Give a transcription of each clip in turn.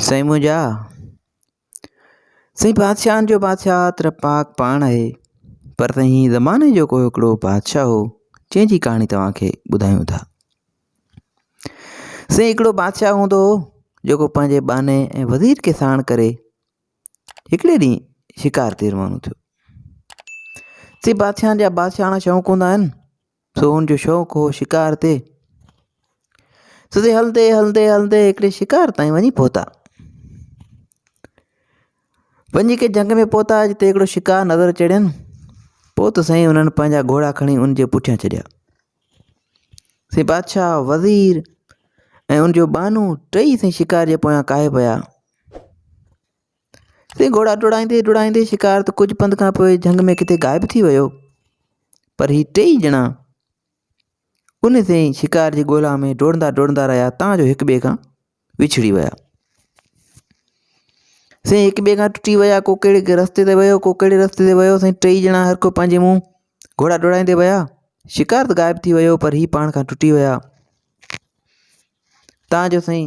سائين منهنجا سائين بادشاهن جو بادشاهه تر پاڪ پاڻ آهي پر سائين هي زماني جو ڪو هڪڙو بادشاهه هو جنهن جي ڪهاڻي توهان کي ٻڌايون ٿا سائين هڪڙو بادشاهه هوندو هو جيڪو پنهنجي ٻانهي ۽ وزير کي ساڻ ڪري هڪڙي ڏينهن شڪار تي روانو ٿيو سي بادشاهن جا بادشاهڻا شوق هوندا آهن سو ان جو شوق هو شڪار تي سو سي هلندي هلندي هلندي هڪڙي شڪار تائين وڃي پهتا وڃي ڪي جنگ ۾ پهتا جتي هڪڙو شڪار نظر چڙين پوء ته سائين انهن پنهنجا گهوڙا کڻي ان جي پٺيان چڙيا سي بادشاهه وزير ۽ ان جو بانو ٽئي سائين شڪار جي پويان ڪاهي پيا سي گهوڙا ڊوڙائيندي ڊوڙائيندي شڪار ته ڪجهه پنڌ کان پوء جهنگ ۾ ڪٿي غائب ٿي ويو پر هي ٽيئي ڄڻا ان سين ئي شڪار جي ڳولا ۾ ڊوڙندا ڊوڙندا رهيا تان جو هڪ ٻئي کان وڇڙي ويا سين هڪ ٻئي کان ٽٽي ويا ڪو ڪهڙي رستي تي ويو ڪو ڪهڙي رستي تي ويو سائين ٽيئي ڄڻا هر ڪو پنهنجي منهن گهوڙا ڊوڙائيندي ويا شڪار ته غائب ٿي ويو پر هي پاڻ کان ٽٽي ويا تان جو سائين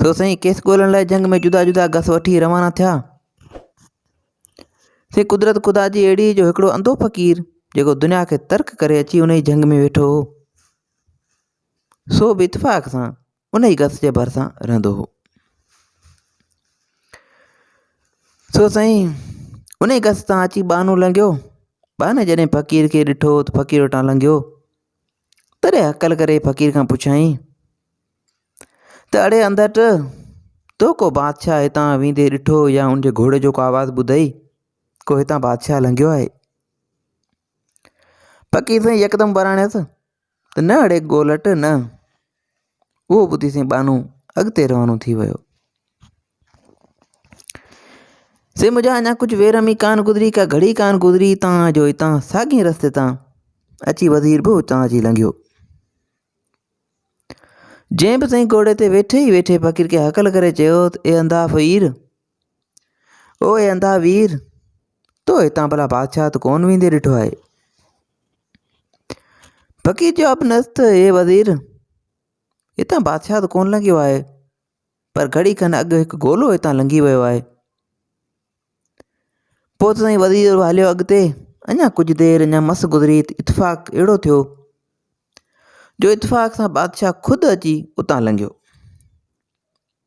سو سائين کيس ڳولڻ لاء جهنگ ۾ جدا جدا گس وٺي روانا ٿيا. سائين قدرت خدا جي اهڙي جو هڪڙو انڌو فقير جيڪو دنيا کي ترڪ ڪري اچي انهي جهنگ ۾ ويٺو هو. سو به اتفاق سان انهي گس جي ڀرسان رهندو هو. سو سائين انهي گس تان اچي ٻانهو لنگهيو. ٻانهي جڏهن فقير کي ڏٺو ته فقير وٽان لنگهيو. تڏهن هڪل ڪري فقير کان پڇيائين ته اڙي انڌٽ تو ڪو بادشاهه هتان ويندي ڏٺو يا ان جي گهوڙي جو ڪو آواز ٻڌئي ڪو هتان بادشاهه لنگهيو آهي فقير سائين يڪدم وراڻيس ته نه اڙي ڳولٽ نه اهو ٻڌي سائين ٻانهو اڳتي روانو ٿي ويو سي مجا اڃا ڪجهه ويرمي ڪان گذري ڪا گھڙي ڪان گذري تان جو هتان ساڳي رستي تان اچي وزير به هتان اچي لنگھيو جنهن به سائين گھوڙي تي ويٺي ئي ويٺي فقير کي هڪل ڪري چيو اي اندا فقير او اي انڌا وير تو هتان ڀلا بادشاهه ته ڪون ويندي ڏٺو آهي فقير جواب ڏنس ته اي وزير هتان بادشاهه ته ڪون لنگهيو آهي پر گھڙي کن اڳ هڪ گولو هتان لنگهي ويو آهي پوء ته سائين وزير هليو اڳتي اڃا ڪجھه دير اڃا مس گذري اتفاق اهڙو ٿيو جو اتفاق سان بادشاهه خود اچي اتان لنگهيو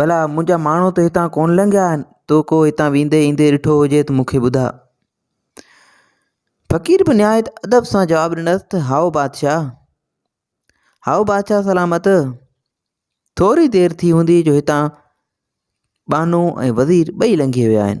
ڀلا منهنجا ماڻهو ته هتان ڪونه لنگهيا آهن تو ڪو هتان ويندي ايندي ڏٺو هجي ته مونکي ٻڌاء فقير به نهايت ادب سان جواب ڏنس ته هائو بادشاهه هائو بادشاهه سلامت ٿوري دير ٿي هوندي جو هتان ٻانو ۽ وزير ٻئي لنگهي ويا آهن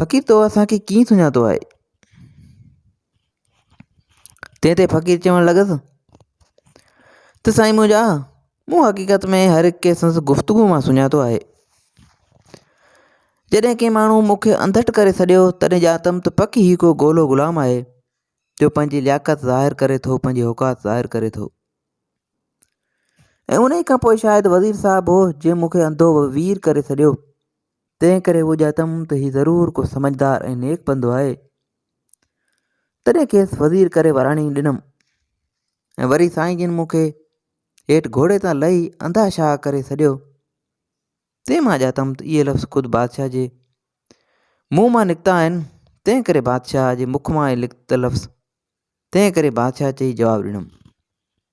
فقير تو اسان کي ڪيئن سڃاتو آهي تنهن تي فقير چوڻ لڳس ته سائين منهنجا مون حقيقت ۾ هر هڪ کي سنس گفتگو مان سڃاتو آهي جڏهن ڪنهن ماڻهو مونکي انڌٽ ڪري سڏيو تڏهن ڄاتم ته پڪ هي ڪو گولو غلام آهي جو پنهنجي لياقت ظاهر ڪري ٿو پنهنجي اوقات ظاهر ڪري ٿو ۽ ان کان پوء شايد وزير صاحب هو جنهن مونکي انڌو وير ڪري سڏيو تنهن ڪري اهو ڄاتم ته هي ضرور ڪو سمجهدار ۽ نيڪ بندو آهي. تڏهن کيس وزير ڪري وراڻي ڏنم ۽ وري سائين جن مون کي هيٺ گهوڙي تان لهي انڌا شاهه ڪري سڏيو. تنهن مان ڄاتم ته اهي لفظ خود بادشاهه جي منهن مان نڪتا آهن، تنهن ڪري بادشاهه جي مک مان اهي لکت لفظ، تنهن ڪري بادشاهه چئي جواب ڏنم.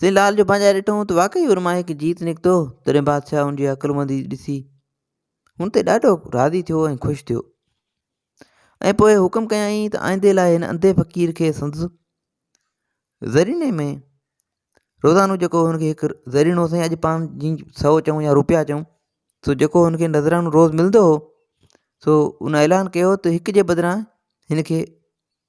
سين لال جو بانجا ڏٺائون ته واقعي ان مان هڪ جيت نڪتو تڏهن بادشاهه ان جي عقلمندي ڏسي هن تي ڏاڍو راضي ٿيو ۽ خوش ٿيو ۽ پوء حڪم ڪيائين ته آئندي لاء هن انڌي فقير کي سندس ذريني ۾ روزانو جيڪو هن کي هڪ ذرينو سائين اڄ پاڻ جي سو چئون يا روپيا چئون سو جيڪو هن کي نظرانو روز ملندو هو سو ان اعلان ڪيو ته هڪ جي بدران هن کي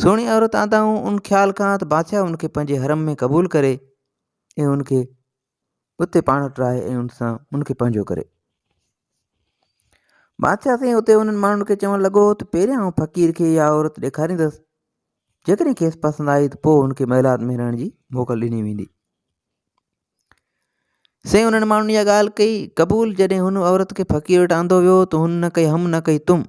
سهڻي عورت آندائون ان خيال کان ته بادشاهه ان کي پنهنجي حرم ۾ قبول ڪري ۽ ان کي اتي پاڻ وٽ رهائي ۽ ان سان ان کي پنهنجو ڪري بادشاهه سائين اتي انهن ماڻهن کي چوڻ لڳو ته پهريان آئون فقير کي اها عورت ڏيکاريندس جيڪڏهن کيس پسند آئي ته پوء ان کي محلات ۾ رهڻ جي موڪل ڏني ويندي سائين انهن ماڻهن اها ڳالهه ڪئي قبول جڏهن هن عورت کي فقير وٽ آندو ويو ته هن نه ڪئي هم نه ڪئي تم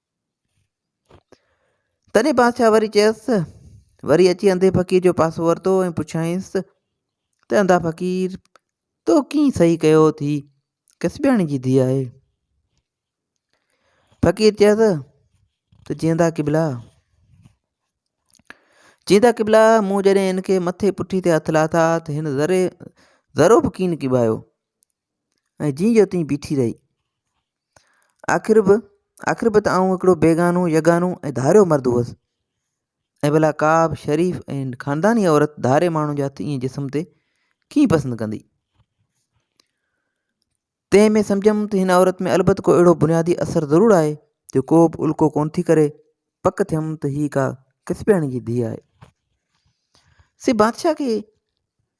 تڏهن بادشاهه وري چيس، وري اچي انڌي فقير جو پاسو ورتو ۽ پڇيائينس ته انڌا فقير تو ڪيئن صحيح ڪيو ٿي ڪسبياڻي جي ڌي آهي فقير چيس ته جيندا قبلا جيندا قبلا مون جڏهن ان کي مٿي پٺي تي هٿ لاٿا ته هن ذري ذرو به ڪين ڪبايو ۽ جيئن جو تيئن بيٺي رهي آخر به آخر به ته آئون هڪڙو بيگانو يگانو ۽ ڌاريو مرد هئس ۽ ڀلا ڪا به شريف ۽ خانداني عورت ڌاري ماڻهو جي هٿ ائين جسم تي ڪيئن پسند ڪندي تنهن ۾ سمجهيم ته هن عورت ۾ البت ڪو اهڙو بنيادي اثر ضرور آهي جو ڪو به الڪو ڪون ٿي ڪري پڪ ٿيم ته هي ڪا ڪسبياڻي جي ڌيء آهي سي بادشاهه کي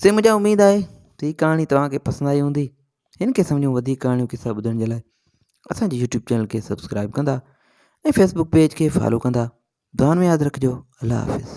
سي مجھا اميد آهي ته هي ڪهاڻي توهان کي پسند آئي هوندي هن قسم جون وڌيڪ ڪهاڻيون قصا ٻڌڻ جي لاء اسان جي يوٽيوب چينل کي سبسڪرائب ڪندا ۽ فيسبوڪ پيج کي فالو ڪندا دعان ۾ ياد رکجو الله حافظ